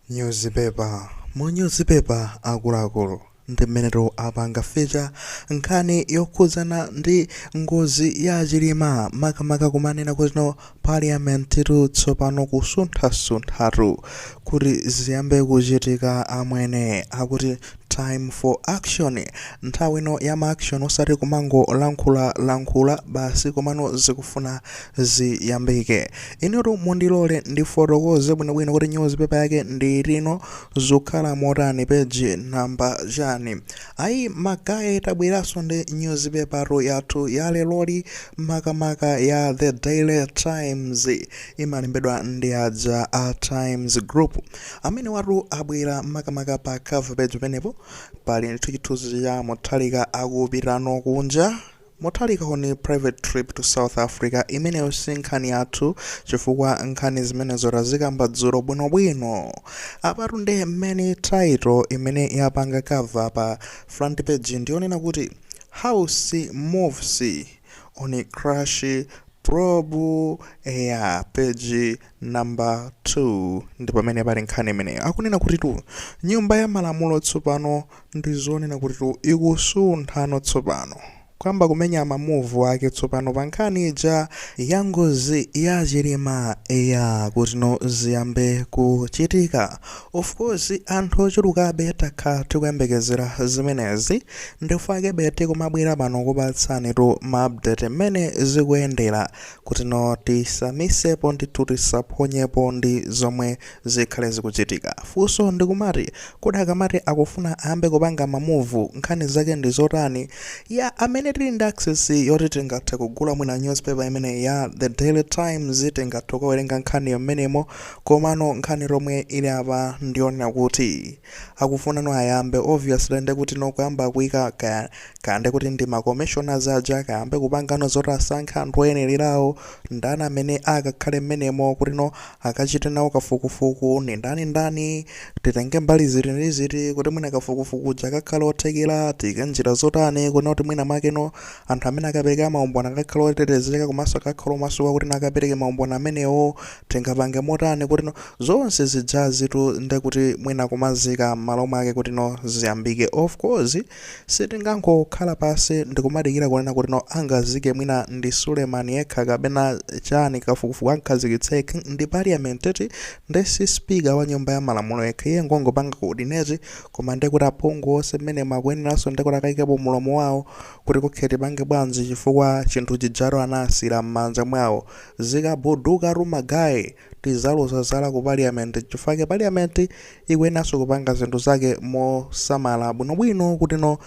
Newspaper, mu newspaper akuluakulu ndi mmenetu apanga feature nkhani yokhudzana ndi ngozi ya Chilima makamaka kumanena kuti no Parliament tu tsopano kusunthasunthatu kuti ziyambe kuchitika amwene akuti time for action, nthawi ino ya ma action osati kumangolankhulalankhula basi komano zikufuna ziyambike inutu mundilole ndifotokoze bwinobwino kuti nyuzipepala yake ndi tiuzeni zikukhala motani peji namba chani ayi magaye tabweranso ndi nyuzipepa yathu ya leloli makamaka ya the daily times imalembedwa ndi aja a times group amene awatu abwera makamaka pa cover page penepo pali ndithu chithunzi cha Mutharika akupitano kunja Mutharika on private trip to South Africa imeneyo si nkhani yathu chifukwa nkhani zimenezo tazikamba dzulo bwinobwino. Apatu nde main title imene yapanga cover pa front page ndiyonena kuti House moves on crash probe eya page number 2 ndipamene pali nkhani imeneyo. Akunena kutitu Nyumba ya Malamulo tsopano ndi zonena kuti tu ikusunthano tsopano kuyamba kumenya ma move ake tsopano pa nkhani ija ya ngozi ya chilima eya kuti no ziyambe kuchitika of course anthu ochulukabe takhala tikuyembekezera zimenezi ndife ake bete kumabwera pano kupatsani tu ma update mmene zikuyendera kuti no tisamisepo ndithu tisaphonyepo ndi zomwe zikhale zikuchitika. Funso ndikumati kodi akamati akufuna ayambe kupanga ma move nkhani zake ndi zotani? Yeah amene tili ndi access yoti tingathe kugula mwina newspaper imeneyi ya The Daily Times tingathe kukawerenga nkhaniyo mmenemo komano nkhani yomwe ili apa ndi yonena kuti akufunano ayambe obviously nde kuti no kuyamba kuika kaya nde kuti ndi ma commissioners aja akayambe kupangano zoti asankhe anthu oyenererawo ndani amene akakhale mmenemo kuti no akachite nawo kafukufuku ndi ndani ndani, titenge mbali ziti ndi ziti kuti mwina kafukufuku uja akakhale othekera, tiike njira zotani kunena kuti mwina makeno anthu amene akapereke maumboni akakhale otetezeka komanso akakhale omasuka kuti no akapereke maumboni amenewo, tingapange motani kuti no zonse zijazitu ndekuti mwina kumazika m'malo mwake kuti no ziyambike. Of course. Sitingangokhala pasi ndikumadikira kunena kuti no angazike mwina ndi Suleman yekha kapena chani kafukufuku ankhazikitse ndi parliament eti nde si speaker wa nyumba ya malamulo yekha iye ngongopanga coordinate koma nde kuti aphungu onse mmenemo akuyeneranso nde kuti akaikepo mulomo wawo kuti ok tipange bwanji chifukwa chinthu chijatu anasiira mmanja mwawo zikabuduka tu magaye Tizalozana zala ku parliament nchifukwa chake parliament ikuyeneranso kupanga zinthu zake mosamala bwinobwino kutino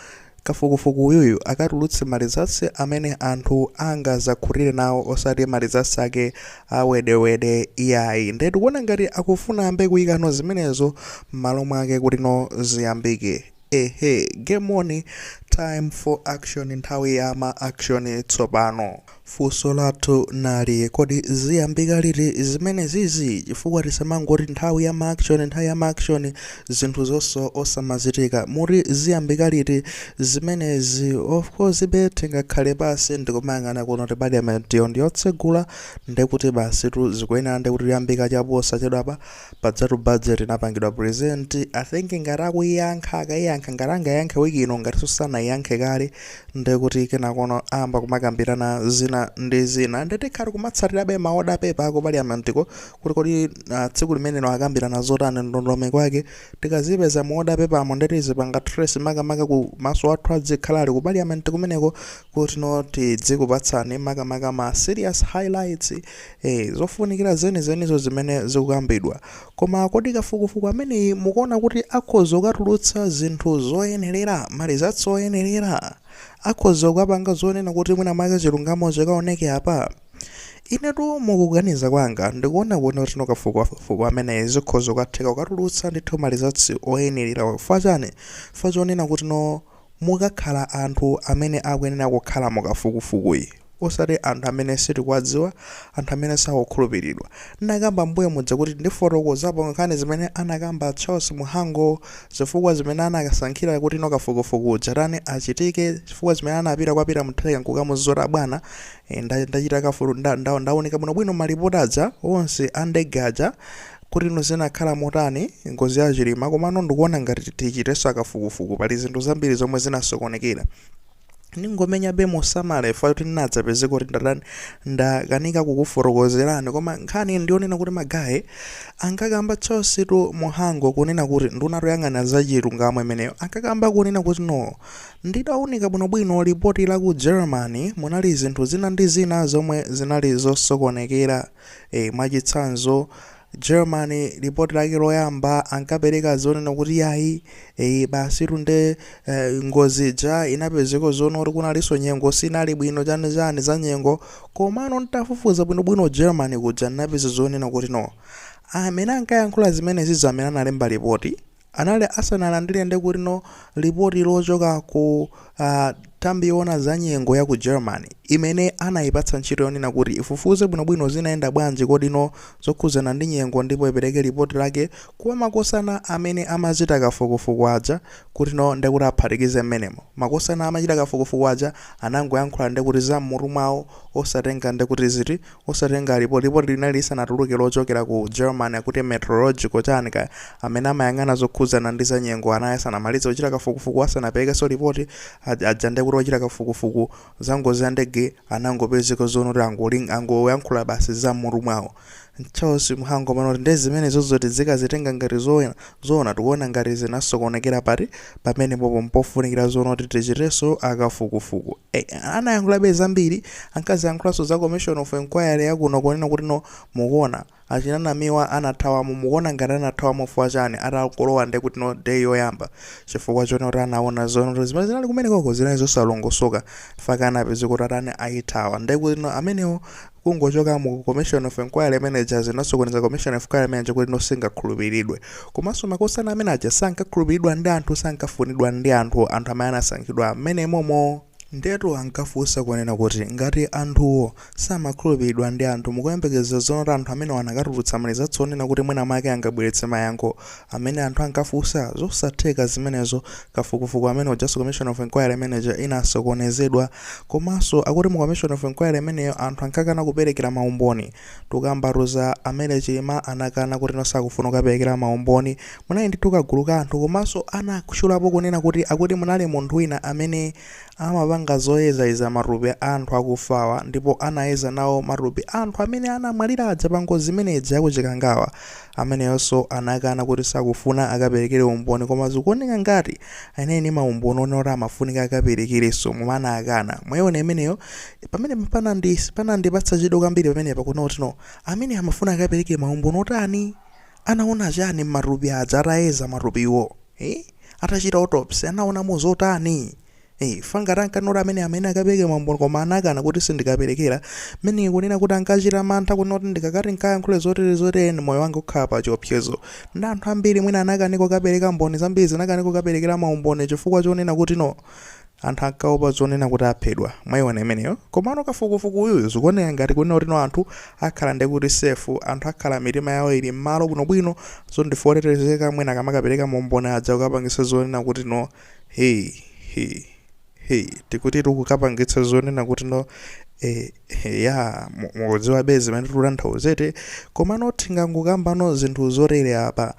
kafukufuku uyuyu akatulutse ma results amene anthu angazakhutire nawo osati ma results ake a wedewede iyayi nde tikuona ngati akufuna ayambe kuikanso zimenezo mmalo mwake kutino ziyambike Hehe game on time for action nthawi ya ma action tsopano funso lathu nali kodi ziyambika liti zimene zizi chifukwa tisamangoti nthawi ya ma action nthawi ya ma action zinthu zonse osamachitika muti ziyambika liti zimenezi of course be tingakhale pansi ndikumayang'ana kunoti parliamentiyo ndi yotsegula ndekuti basitu zikuyenera ndekuti ziyambika chaposachedwapa pajatu budget inapangidwa present i think ngati akuiyankha akaiyankha ngati angayankhe wiki ino ngatinso sanayankhe kale nde kuti kenakono ayamba kumakambirana zina ndi zina nde tikhala tikutsatirabe ma order paper aku paliamentiko kuti kodi uh, tsiku limenelo akambirana zotani ndondomeko yake tikazipeza mu order paper mo nde tizipanga trace makamakaku maso athu adzikhala ali ku paliamenti kumeneko kutino tidzikupatsani makamaka ma serious highlights eh, zofunikira zenizenizo zimene zikukambidwa koma kodi kafukufuku ameneyi mukuona kuti akhoza kukatulutsa zinthu zoyenerera malizatsi oyenerera akhoza kukapanga zonena kuti mwina mwake chilungamo chikaoneke apa inetu mukuganiza kwanga ndikuona kuti kutino kafukufuku ameneyi zikhoza kukatheka kukatulutsa ndithu malizatsi oyenerera chifukwa chani chifukwa chonena kutino Mukakhala anthu amene akuyenera kukhala mu kafukufukuyi osati anthu amene sitikuwadziwa, anthu amene sakukhulupiridwa. Ndinakamba mbuyo muja kuti ndifotokozapo nkhani zimene anakamba Charles Mhango, zifukwa zimene anakasankhira kutino kafukufuku uja atani, achitike, zifukwa zimene anapita kwa Peter Mutharika nkukamuuza bwana, ndachita kafuku, ndaunika bwinobwino ma report aja onse a ndege aja, kutino zinakhala motani ngozi ya chilima komano ndikuona ngati tichitenso kafukufuku pali zinthu zambiri zomwe zinasokonekera ndingomenyabe mosamala chifukwa choti ndingadzapezeke kuti ndatani ndakanika kukufotokozerani koma nkhani ndi yonena kuti magaye ankakamba Charles tu Mhango kunena kuti ndunatu yoyang'ana za chilungamo imeneyo ankakamba kunena kutino nditaunika bwinobwino lipoti la ku germany munali zinthu zina ndi zina zomwe zinali zosokonekera e Mwachitsanzo, Germany, lipoti lake loyamba ankapereka zonena kuti yayi e basitu nde e, ngozi ija inapezeka zonena kuti kunalinso nyengo sinali bwino chani chani za nyengo komano ntafufuza bwinobwino Germany kuja ndinapeza zonena kutino amene ankayankhula zimenezizo amene analemba lipoti anali asanalandire ndi kuti-no lipoti lochoka ku nthambi yoona za nyengo ya ku Germany imene anayipatsa ntchito yonena kuti ifufuze bwinobwino zinayenda bwanji kodi-no zokhudzana ndi nyengo ndipo ipereke lipoti lake kwa makosana amene amachita kafukufuku aja kuti-no ndi kuti aphatikize m'menemo. Makosana amachita kafukufuku aja anangoyankhula nde kuti za m'mutu mwawo osatenga nde kuti ziti Osatenga lipo, Lipoti linali lisanatuluke lochokera ku Germany akuti Meteorological, chani kaya, amene amayang'ana zokhudzana ndi za nyengo anali asanamalize kuchita kafukufuku asanaperekenso lipoti, a, aja nde kuti ochita kafukufuku za ngozi ya ndege anangopezeka zoona kuti ango, angoyankhula basi za mmutu mwawo. Charles Mhango pano kuti nde zimenezozo tizikazitenga ngati zoona, zoona tikuona ngati zinasokonekera pati, pamenepopo mpofunikira zoona kuti tichitenso a kafukufuku. Eh, anayankhulabe zambiri ankaziyankhulanso za commission of inquiry yakuno kunena kuti no mukuona achina Namiwa anathawamo mukuona ngati anathawamo fuwa chani atakolowa nde kuti no day yoyamba chifukwa chonena kuti anaona zonoti zimene zinali kumenekoko zinali zosalongosoka mpaka anapezeka kuti atani ayithawa nde kuti no amenewo Kungochoka mu commission of inquiry imene ija zinasokoneza commission of inquiry imene ija kuti no singakhulupiridwe. Komanso makosana amene aja sankakhulupiridwa ndi anthu, sankafunidwa ndi anthu, anthu amene anasankhidwa mmene momo. Ndiyetu ankafunsa kunena kuti ngati anthuwo samakhulupiridwa ndi anthu, mukuyembekezera zoona kuti anthu amenewa anakatulutsa ma results onena kuti mwina mwake angabweretse mayankho amene anthu ankafunsa? Zosatheka zimenezo. Kafukufuku amene ujanso commission of inquiry imene ija inasokonezedwa komanso akuti mu commission of inquiry imeneyo anthu ankakana kuperekera maumboni. Tikukambatu za a Mary Chilima anakana kutino sakufuna kukaperekera maumboni. Munali ndithu kagulu ka anthu komanso anatchulapo kunena kuti akuti munali munthu wina amene amapanga zoyezayeza matupi a anthu akufawa ndipo anayeza nawo matupi a anthu amene anamwalira aja pa ngozi imene ija ya ku Chikangawa. Ameneyonso anakana kuti sakufuna akaperekere umboni koma zikuoneka ngati anali ndi maumboni onena kuti amafunika akaperekerenso koma anakana. Mwaiona imeneyo? Pamenepa panandi panandipatsa chidwi kwambiri pamenepa kuona kuti no ameneyo amafuna akapereke maumboni otani? Anaona chani m'matupi aja atayeza matupiwo? Eh? Atachita autopsy anaonamo zotani? Hey, fa ngati ankanoti amene amene akapereke maumboni koma anakana kuti sindikaperekera meaning kunena kuti ankachita mantha kunena kuti ndikakati nkayankhule zotere zotere nde moyo wanga ukhala pa chiopsezo ndi anthu ambiri mwina anakanika kukapereka mboni zambiri zinakanika kukaperekera maumboni chifukwa chonena kuti no anthu ankaopa zonena kuti aphedwa mwaiona imeneyo komano kafukufuku uyuyu zikuoneka ngati kunena kuti no anthu akhala nde kuti safe anthu akhala mitima yawo ili m'malo bwinobwino zoti ndife otetezeka mwina akamakapereka maumboni aja kukapangisa zonena kuti no he he he tikuti tikukupangitsa zonena kuti no eh, eh, ya mu- mukudziwabe zimene tikutanthawuzete komano tingangokambano zinthu zotere apa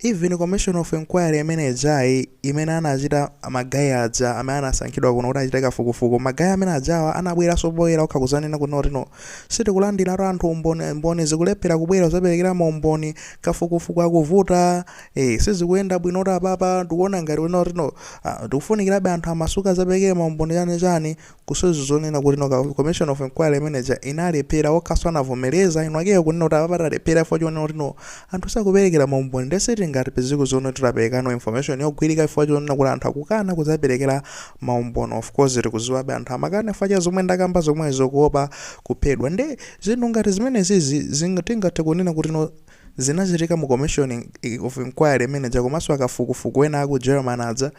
even commission of inquiry imene ijayi imene anachita magayi aja amene anasankhidwa kuno kuti achite kafukufuku magayi amene ajawa anabweranso poyera okha kuzanena kuno kuti no sitikulandiratu anthu umboni mboni zikulephera kubwera kuzaperekera maumboni kafukufuku akuvuta Eh, sizikuyenda bwino kuti apapa tikuona ngati wina kuti no ah, tikufunikirabe anthu amasuke azapereke maumboni chani chani kusonyeza zonena kuti no ka- commission of inquiry imene ija inalephera okhaso anavomereza eni akewo kunena kuti apapa talephera chifukwa chonena kuti no anthu sakuperekera maumboni nde sitingathe kupezako zoti titapereka no information yogwirika chifukwa chonena kuti anthu akukana kuzaperekera maumboni of course tikuziwabe anthu amakana chifukwa cha zomwe ndakamba zomwezo kuopa kuphedwa nde zinthu ngati zimenezi zi- zinga- tingathe kunena kuti no Zinachitika mu commission of inquiry imene ija komanso akafukufuku ena aku German aja,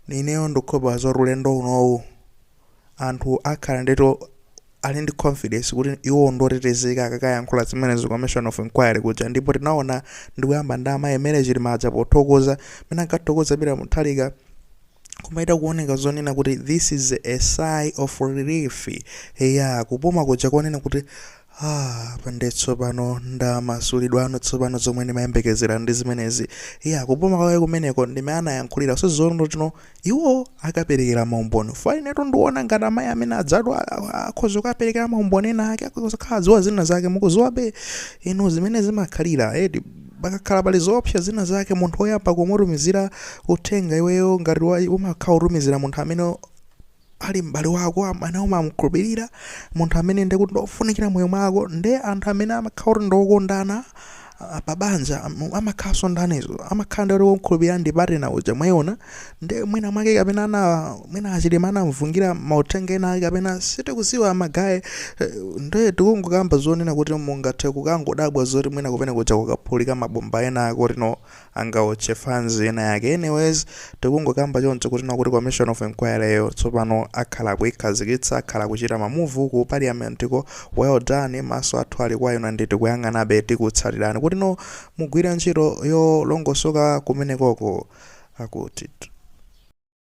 ineyo ndikukhulupirira zoti ulendo unowu anthu akhala ndithu ali ndi confidence kuti iwowo ndi otetezeka akakayankhula zimenezi ku commission of inquiry kuja ndipo tinaona ndikuyamba ndi amayi Mary Chilima aja pothokoza, mmene ankathokoza Peter Mutharika. Kumachita kuoneka zonena kuti this is a sigh of relief. Eya, kupuma kuja konena kuti ah, apa nde tsopano ndamasulidwa no tsopano zomwe ndimayembekezera ndi zimenezi. Eya, kupuma kwake kumeneko ndi mmene anayankhulira zoti no iwo akaperekera maumboni. Chifukwa inetu ndiona ngati amayi amene ajawa akhoza kukaperekera maumboni ena ake akhoza kukhala akudziwa zina zake mukudziwabe inu zimene zimakhalira eti. pakakhala pali zoopsa zina zake munthu oyamba kumutumizira uthenga iweyo ngati wa- umakhala utumizira munthu amene ali m'bale wako amene umamkhulupirira munthu amene ndi kuti ndofunikira moyo mwako ndi anthu amene amakhala kuti ndokondana ah, pa banja am- amakhalanso ndi anzawo amakhala ndi kuti womkhulupirira ndi partner uja mwaiona nde mwina mwake kapena ana mwina achilima anamugungira mauthenga ena ake kapena sitikuziwa magayi eh, nde tikungokamba zonena kuti mungathe kukangodabwa zoti mwina kumene kuja kukaphulika mabomba ena ake oti no angaotche fans inayake anyways tikungokamba choncho kuti no akuti commission of inquiry yo tsopano akhala akuikhazikitsa akhala akuchita mamuvu ku parliament ko well done maso athu ali kwa inu nde tikuyang'anabe tikutsatirani kuti no Mugwira ntchito yolongosoka kumenekoko, akuti.